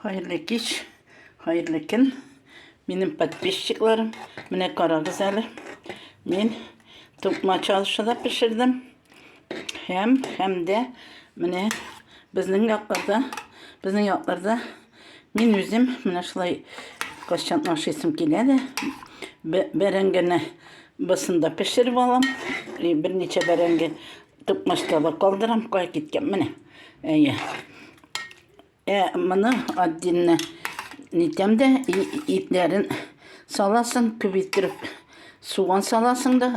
Хәерле кич, хәерле көн. Минем подписчикларым, менә карагыз әле. Мин тукма чалышы да пешердем. Һәм, һәм дә менә безнең якларда, безнең якларда мин үзем менә шулай кашчан ашыйсым килә дә бәрәңгене бысында пешереп алам. И берничә бәрәңге Токмаста да калдырам, кая киткән, менә. Әйе. Ә моны отдельно нитәм дә, итләрен саласың, күбейтереп суган саласың да,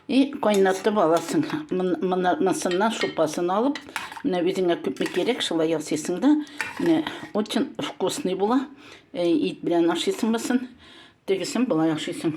и кайнатып аласың. Монысыннан шупасын алып, менә үзеңә күпме кирәк, шулай ясыйсың да, менә очень вкусный була. Ит белән ашыйсың басын, тегесен болай ашыйсың.